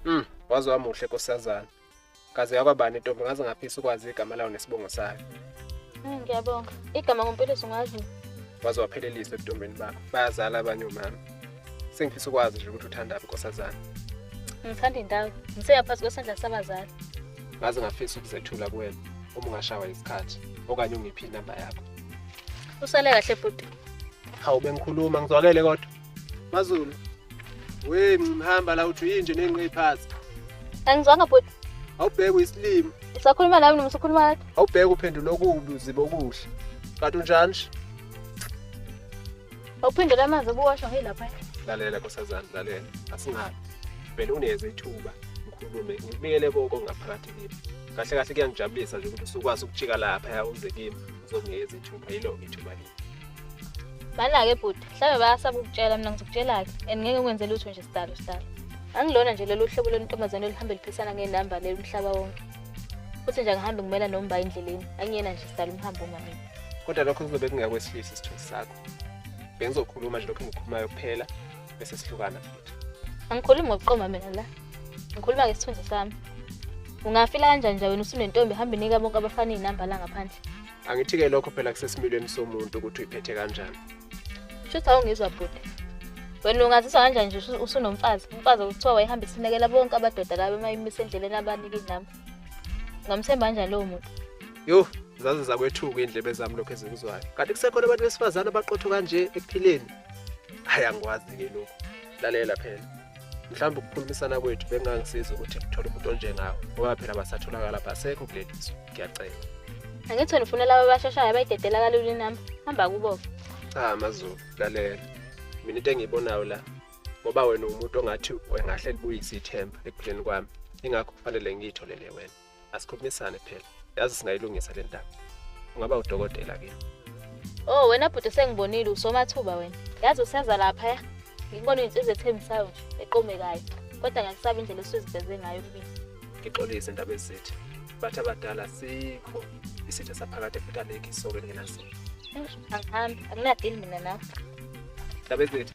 Mm, waze wamuhle nkosazana. Kaze yakwabani intombi ngaze ngaphisa ukwazi igama lawo nesibongo sayo. Mm, ngiyabonga. Igama ngompiliso ngazi. Waze waphelelisa ebutombeni bakho. Bayazala abanye omama. Sengifisa ukwazi nje ukuthi uthandaphi nkosazana. Ngithanda indawo. Ngiseyaphansi kwesandla sabazali. Ngaze ngafisa ukuzethula kuwena uma ungashawa isikhathi okanye ungiphi inamba yakho. Usale kahle bhuti. Hawu bengikhuluma ngizwakele kodwa. Mazulu. We mhamba la uthi yinje nenqe iphazi. Angizwanga bhuti. Awubheke isilimo. Usakhuluma nami noma usukhuluma nathi? Awubheke uphendula okubi uziba okuhle. Kanti unjani nje? Awuphendula amanzi obuwasho ngilapha. Lalela nkosazana lalela. Asingabi. Vele uneze ithuba ngikhulume ngibikele konke ngaphakathi kimi. Kahle kahle kuyangijabulisa nje ukuthi usukwazi ukujika lapha uze kimi uzongiyeza ithuba yilo ithuba leli. Bana-ke bhuti mhlawumbe bayasaba ukutshela mina ngizokutshela-ke and ngeke ngikwenze lutho nje sidalo sidalo angilona nje lolu hlobo lwentombazane oluhambe liphisana ngenamba leli umhlaba wonke futhi nje angihambe ngimela nomba endleleni angiyena nje sidala umhambo uma mina kodwa lokho kuzobe kungakwesilisa isithunzi sakho bengizokhuluma nje lokho engikhulumayo kuphela bese sihlukana futhi angikhulumi ngokuqoma mina la ngikhuluma ngesithunzi sami ungafila kanjani nje wena usunentombi hambe inika bonke abafana iy'namba la ngaphandle angithi-ke lokho phela kusesimilweni somuntu ukuthi uyiphethe kanjani shuthi awungizwa bhuti wena ungaziswa kanjani nje usunomfazi umfazi okuthiwa wayehamba isinekela bonke abadoda labo emayimise endleleni abanike inamba ungamthemba kanjani lowo muntu yho zaze zakwethuka iy'ndlebe zami lokhu ezikuzwayo kanti kusekhona abantu besifazane abaqotho kanje ekuphileni hhayi angikwazi-ke lokhu lalela phela mhlawumbe ukukhulumisana kwethu bekungangisiza ukuthi ngithole umuntu onjengawe ngoba phela basatholakala basekho kuleli zwe ngiyacela angithi wena ufuna laba abashashayo abayidedela kalula inamba hamba kubo cha mazulu lalela mina into engiyibonayo la ngoba wena umuntu ongathi wengahle libuyise ithemba ekupheleni kwami ingakho kufanele ngiyitholele wena asikhulumisane phela yazi singayilungisa le ndaba ungaba udokotela ke oh wena bhuti sengibonile usomathuba wena yazi useza lapha ya ngikubona iy'nsizwa ethembisayo nje eqomekayo kodwa ngiyakusaba indlela esuziveze ngayo kumina ngixolise indaba ezithi bathi abadala sikho isitha saphakade futhi alekhi isoko elingenazini angihambi anginadili mina nawe indaba ezithi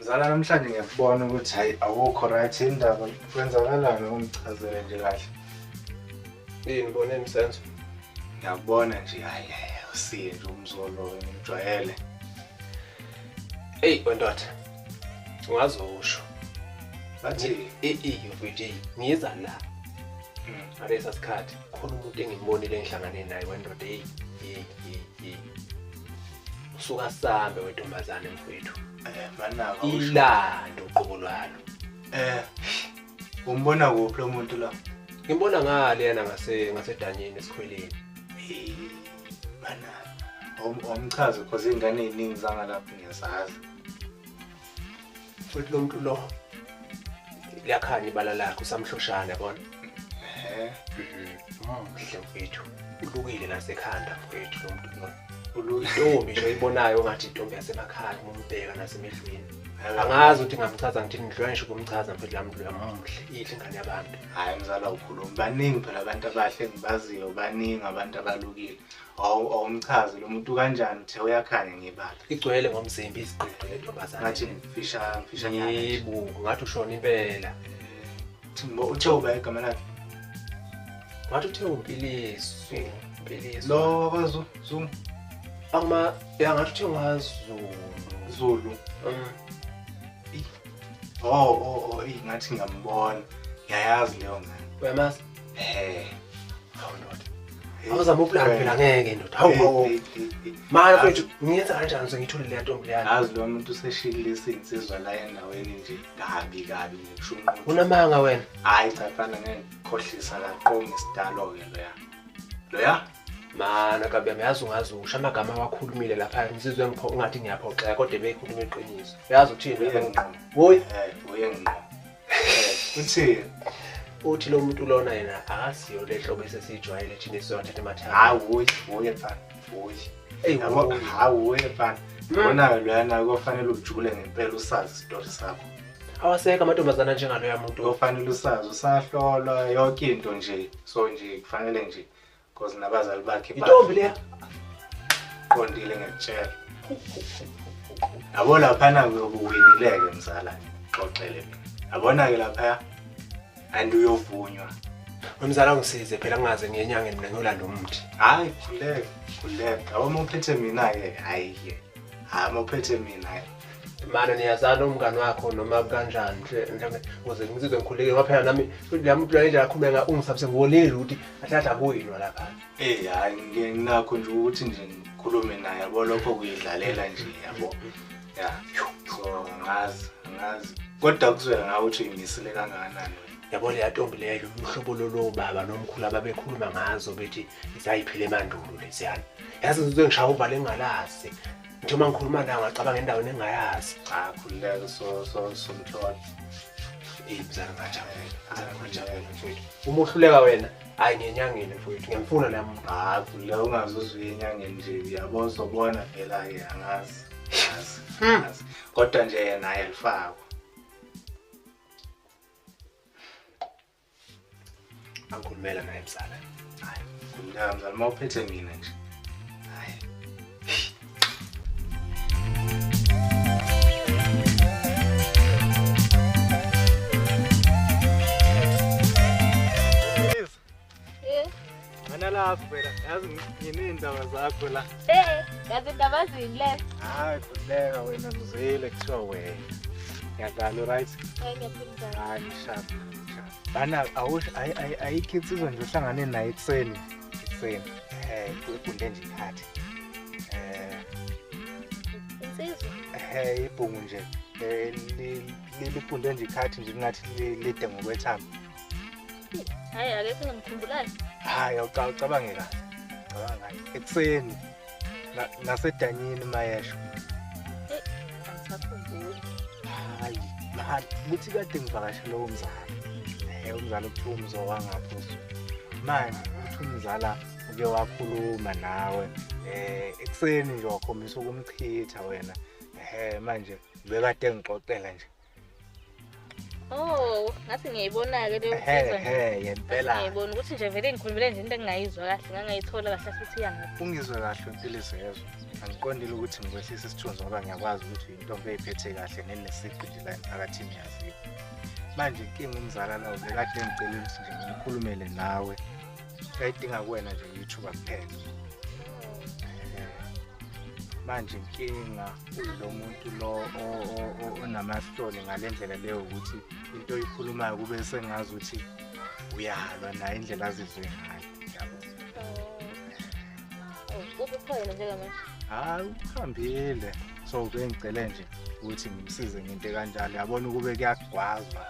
Mzala namhlanje ngiyakubona ukuthi hayi awukho right indaba kwenzakalani ungichazele nje kahle. Yini bone msenzo? Ngiyakubona nje hayi usiye nje umzolo ngijwayele. Hey wendoda. Ungazi usho. Bathi eyo VD ngiza la. Hmm. Ngalesa sikhathi khona umuntu engimbonile engihlangane naye wendoda hey hey hey. Usuka sambe wentombazane mfowethu. Eh, manaka usho. ilando uqobo lwalo Eh. Umbona kuphi lo muntu la? ngimbona ngale yana ngase ngasedanyeni esikhweleni Eh, Manaka. Om- Omchazo cause ingane eziningi zangalapha ngiyasazi. futhi lo muntu lo liyakhanya ibala lakhe usamhloshana yabona Eh. muhle mfethu Ulukile nasekhanda mfowethu lo muntu lo. Intombi nje oyibonayo ongathi intombi yasemakhaya uma umbheka nasemehlweni. Angazi ukuthi ngamchaza ngithini ngidlula ngisho ukumchaza mfethu lami mdlula muhle ihle ingane yabantu. Hayi mzala ukhuluma baningi phela abantu abahle ngibaziyo baningi abantu abalukile. Awu awumchazi lo muntu kanjani uthe uyakhanya ngebala. Igcwele ngomzimba iziqoqo lentombazane. Ngathi ngifisha ngifisha nyana. Yebo, ngathi ushona impela. Ngo uTheuba igama lakhe. Wathi uTheuba Mpiliswa, eh, Mpiliswa. Lo wakwaZulu, Zulu. Ama ya ngathi uTheuba waZulu. Zulu. Mm. Oh, oh, oh, ingathi ngiyambona. Ngiyayazi leyo ngane. Uyamazi? Eh. Hawu ndoda. Eh, Awuzama ukulala eh. phela ngeke ndoda. Hawu hawu. Eh, Manje mfethu ngiyenza kanjani ngithule le ntombi leyana? Azi lo muntu useshilile isinsizwa la endaweni nje. kabi kabi ngisho unqothi unamanga wena hayi cha mfana ngeke khohlisa la qonga isidalo ke loya loya mana kabi yami yazi ungazi usho amagama awakhulumile lapha ngizizwe ngipho ungathi ngiyaphoxeka kodwa beyikhuluma iqiniso yazi uthini uye ngqo woyi eh uye ngqo Eh, uthini uthi lo muntu lona yena akasiyo le hlobo esesijwayele thina esizowathatha emathanga hayi uye uye mfana eyi yabo hawu wefana bonayo loyana kofanele ujule ngempela usazi isitori sakho awasekho amantombazana njengaloya muntu kofanele usazi usahlolwa yonke into nje so nje kufanele nje cause nabazali bakhe intombi leya qondile ngekutshela yabo laphana kuyobuwinileke mzala xoxele yabona-ke laphaya and uyovunywa Mamzala ngisize phela ngaze ngiyenyangeni mina ngiyolanda umuthi. Hayi khuleka, khuleka. Awoma uphethe mina ke. Hayi ke. Hama uphethe mina ke. Mana niyazana umngani wakho noma kanjani nje mhlawumbe uze ngizizwe ngikhuleke ngoba phela nami lami plan indlela akhuluma nga ungisabise ngiwolile ukuthi ahlahla kuyinwa lapha. Eh hayi nginakho nje ukuthi nje ngikhulume naye yabo lokho kuyidlalela nje yabo. ya so ngazi ngazi kodwa kuzwela ngawe ukuthi uyimisile kangakanani yabo leya ntombi leyo umhlobo lolo baba nomkhulu ababekhuluma ngazo bethi isayiphile emandulo lesiyana yazi ngizoze ngishaya uvale engalazi nje uma ngikhuluma nayo ngacabanga endaweni engayazi cha khululeka so so so mhlolo eyi mzala ngajabula mzala ngajabula mfowethu uma uhluleka wena hayi ngenyangeni mfowethu ngiyamfuna nami hayi khululeka ungazuzwi enyangeni nje yabo sobona vela-ke angazi ngazi hmm. ngazi kodwa nje yena ayalifakwa angikhulumela naye mzala hayi khulumela mzala uma uphethe mina nje hayi Eh. Mana la phela yazi nginey'ndaba zakho la. Eh, yazi indaba zini le? Hayi khuleka wena ngizile kuthiwa wena. Ngiyadlala right? Hayi ngiyaphila. Hayi ngishapha. Bana awusho ayikho insizwa nje uhlangane naye ekuseni. Ekuseni. Eh, kwegunde nje ikhathi. Eh. Insizwa. Eh, ibhungu nje. Eh, lifunde nje ikhathi nje kungathi lide ngokwethamba. Hayi akekho ngimkhumbulayo. Hayi awucabange kahle. Cabanga ngaye. Ekuseni ngasedanyini mayesho. Eh, angisakhumbuli. Hayi, manje kuthi kade ngivakashe lowo mzali. Eh umzali okuthiwa umzo wangapho. Manje uthi umzala uke wakhuluma nawe eh ekuseni nje wakhombisa ukumchitha wena. Eh manje bekade ngixoxela nje. Oh, ngathi ngiyayibona-ke leyo nsizwa nje. Ehe, ngempela. Ngiyayibona ukuthi nje vele ngikhulumele nje into engingayizwa kahle, ngangayithola kahle futhi iyangaphi. Ungizwe kahle uMpilisi yezwa. Angiqondile ukuthi ngikwehlisa isithunzi ngoba ngiyakwazi ukuthi uyintombi eyiphethe kahle nenesiqu nje la emphakathini yaziyo. Manje inkinga umzala lawo bekade engicela ukuthi nje ngikhulumele nawe. Kayidinga kuwena nje ithuba kuphela. Ehe. Manje inkinga lo muntu lo onamahloni ngale ndlela leyo ukuthi into oyikhulumayo kube sengazi ukuthi uyalwa naye indlela azizwe ngayo yabo oh, ukukhona njengamanje hayi ukuhambile so bengicele nje ukuthi ngimsize ngento kanjalo yabona ukube kuyagwazwa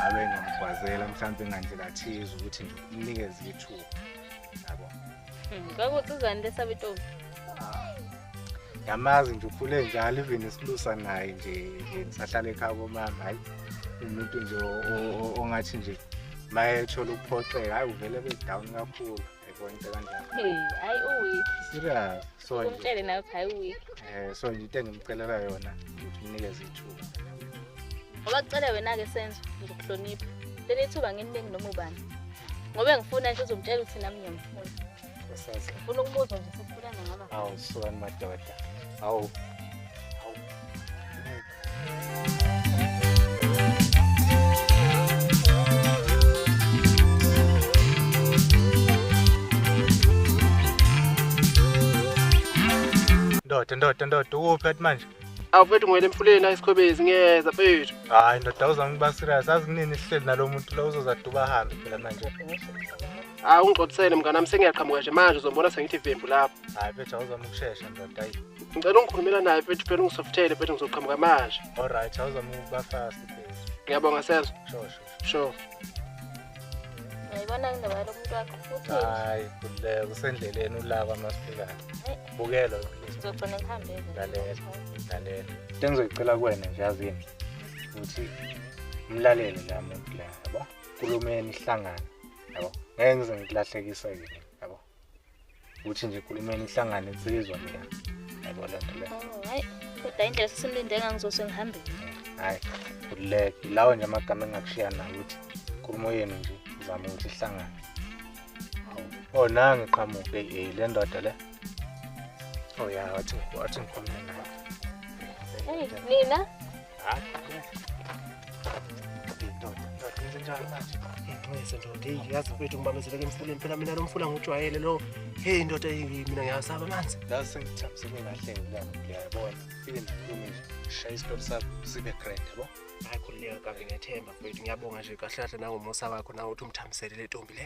abe ngimgwazela mhlawumbe ngandlela thize ukuthi nje umnikeze ithuba yabo hmm, kwakuthi uzani lesabe intombi yamazi nje ukhule njalo even isilusa naye nje ngisahlala ekhaya komama hayi umuntu nje ongathi nje mayethola ukuphoxeka hayi uvele bedown kakhulu yayibona into kanjalo hayi uweek serious so umtshele naye ukuthi hayi uweek um so nje into engimcelela yona ukuthi unikeze ithuba ngoba kucele wena-ke senzo ngizokuhlonipha leli thuba ngininingi noma ubani ngoba ngifuna nje uzomtshela ukuthi nami ngiyamfuna Usazi. Ufuna ukubuza nje sesifulana ngama. Awu sukani madoda. Awu. Ndoda ndoda ndoda ukuphi kathi manje? awufethu ngwele emfuleni ayisikhobezi ngiyeza fethu Hayi ndoda uzama ukuba serious azi kunini sihleli nalomuntu lo uzozaduba ahambe phela manje. hayi ah, ungigcobisele mnganami sengiyaqhamuka nje manje uzombona sengithi vembu lapho hayi phethu awuzama ukushesha ndoda ayi ngicela ungikhulumela naye phethu phela ungisofuthele phethu ngizoqhamuka manje olright awuzama ukuba fast phethu ngiyabonga senzo sure sure sure yayibona indaba yalo muntu wakho futhi hayi kululeka usendleleni ulaba masifikayo bukelo sizogcina ngihambele lalela lalela into engizoyicela kuwena nje yazini ukuthi umlalele la muntu la yabo kulumeni ihlangana yabo ngeke ngize ngikulahlekise ke yabo ukuthi nje kulumeni ihlangane insizwa nje yabo le nto le Oh, hayi kodwa indlela sesimlinde ngangizose ngihambile hayi uleke lawo nje amagama engakushiya nawo ukuthi inkulumo yenu nje izama ukuthi ihlangane Hawu. oh nangi qhamuke eh le ndoda le oh ya wathi wathi ngikhulume nayo eyi nina Ngize ndoda eyi yazi mfethu ngibambezeleke emfuleni phela mina lo mfula ngujwayele lo heyi ndoda eyi mina ngiyasaba amanzi Ngaze sengithamsele kahle ngilana ngiyabona. Fike ngikhulume nje. Shaya isitori sakho sibe grand yabo. hayi khululeka kake ngethemba mfethu ngiyabonga nje kahle kahle nangomusa wakho nawe uthi umthambisele le ntombi le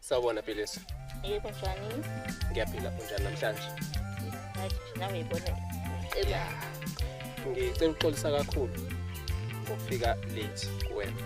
Sawubona Philisa. Yebo njani? Ngiyaphila unjani namhlanje? Hayi nawe yibona. Eba. Ngicela uxolisa kakhulu ngokufika late kuwena.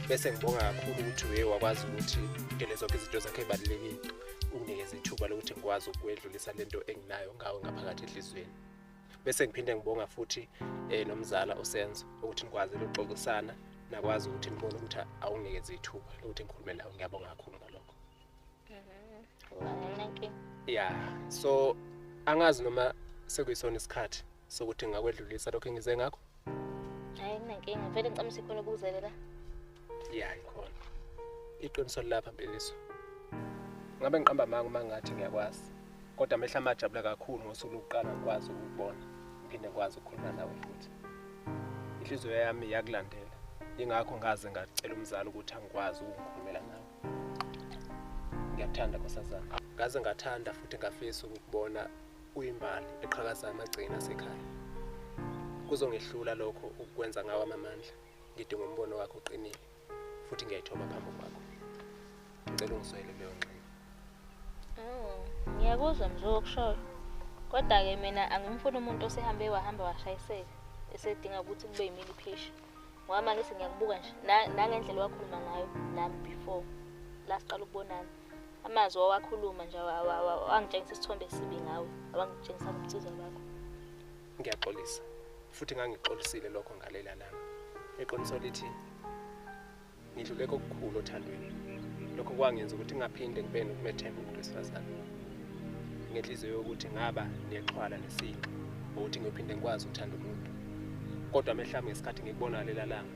Bese ngibonga kakhulu ukuthi uye wakwazi ukuthi udele zonke izinto zakhe ezibalulekile. Unginikeza ithuba lokuthi ngikwazi ukwedlulisa lento enginayo ngawe ngaphakathi enhlizweni. bese ngiphinde ngibonga futhi eh, nomzala usenzo ukuthi nikwazile ukuxoxisana nakwazi ukuthi nibone ukuthi awungekezi ithuba lokuthi ngikhulume nawe ngiyabonga kakhulu ngalokho ya so angazi noma sekuyisona isikhathi sokuthi ngakwedlulisa lokho engize ngakho Hayi kunenkinga, ngivele ngicela sikhona ukuzelela. Yeah, ikhona. Iqiniso lapha Mpikiso. Ngabe ngiqamba amanga uma ngathi ngiyakwazi. Kodwa amehla amajabula kakhulu ngosuku lokuqala ngikwazi ukubona. Ngiphinde ngikwazi ukukhuluma nawe futhi. Inhliziyo yami yakulandela. Ingakho ngaze ngacela umzali ukuthi angikwazi ukukhulumela nawe. Ngiyakuthanda nkosazana. Ngaze ngathanda futhi ngafisa ukubona uyimbali eqhakaza amagcina asekhaya kuzongehlula lokho ukukwenza ngawo amamandla ngidinga umbono wakho uqinile futhi ngiyayithoma phambi kwakho ngicela ungizwele leyo ngxenye oh ngiyakuzwa mzo okushoyo kodwa-ke mina angimfuni umuntu osehambe wahambe washayiseka esedinga ukuthi kube yimini phesha ngoba mangisi ngiyakubuka nje nangendlela wakhuluma ngayo nami before la siqala ukubonana amazwi owakhuluma nje wangitshengisa isithombe esibi ngawe awangitshengisa ngobusizwa bakho ngiyaxolisa futhi ngangixolisile lokho ngalela langa eqiniso lithi ngidlule kokukhulu othandweni lokho kwangenza ukuthi ngaphinde ngibe nokumethemba umuntu wesifazane ngenhliziyo yokuthi ngaba nexhwala nesinqa ngokuthi ngiyophinde ngikwazi ukuthanda umuntu kodwa amehla ami ngesikhathi ngikubona lelalanga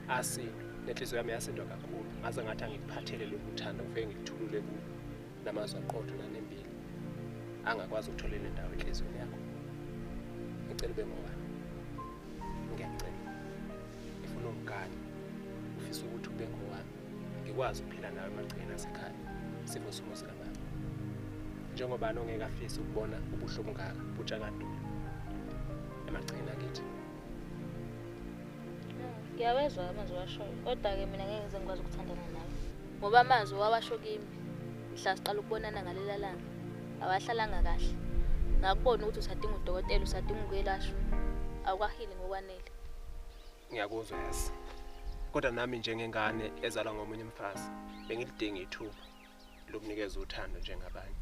asindwe nenhliziyo yami yasindwa kakhulu ngaze ngathi angikuphathele lokhu uthando ngifike ngikuthulule kulo namazwi aqotho nanembili angakwazi ukuthola enye ndawo enhliziyweni yakho ngicela ube ngobani ngiyakucela ngifuna ungigane ngifisa ukuthi ube ngowami ngikwazi ukuphila nawe emagcekeni asekhaya sifo simo sikababa njengobani ongeke afise ukubona ubuhlungu kaka butshakadula emagcekeni akithi ngiyawezwa amazwi washoyo kodwa-ke mina ngeke ngize ngikwazi ukuthandana nawe ngoba amazwi wawasho kimi mhla siqala ukubonana ngalela langa awahlalanga kahle ngakubona ukuthi usadinga udokotela usadinga ukwelashwa awukwahili ngokwanele ngiyakuzwa yasi kodwa nami njengengane ezalwa ngomunye umfazi bengilidinga ithuba lokunikeza uthando njengabanye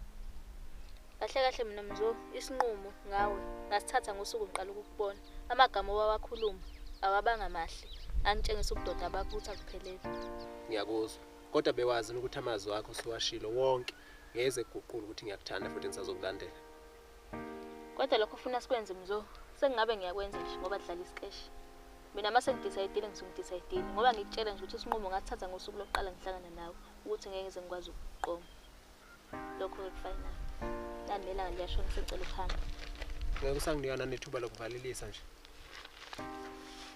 kahle kahle mina mzo isinqumo ngawe ngasithatha ngosuku ngiqala ukukubona amagama owawakhuluma awabanga mahle angitshengisa ubudoda bakuthi akuphelele ngiyakuzwa kodwa bewazi ukuthi amazwi akho siwashilo wonke ngeze kuguqula ukuthi ngiyakuthanda futhi ngisazokulandela Kodwa lokho ufuna sikwenze mzo. Sengabe ngiyakwenza nje ngoba dlala isikeshi. Mina uma sengidecide ngizongidecide ngoba ngikutshela nje ukuthi isinqumo ngathatha ngosuku lokuqala ngihlangana nawe ukuthi ngeke ngize ngikwazi ukuqoma. Lokho ke kufinal. Landela ngiyasho ngisecela uhambe. Ngeke usanginika nanethuba lokuvalelisa nje.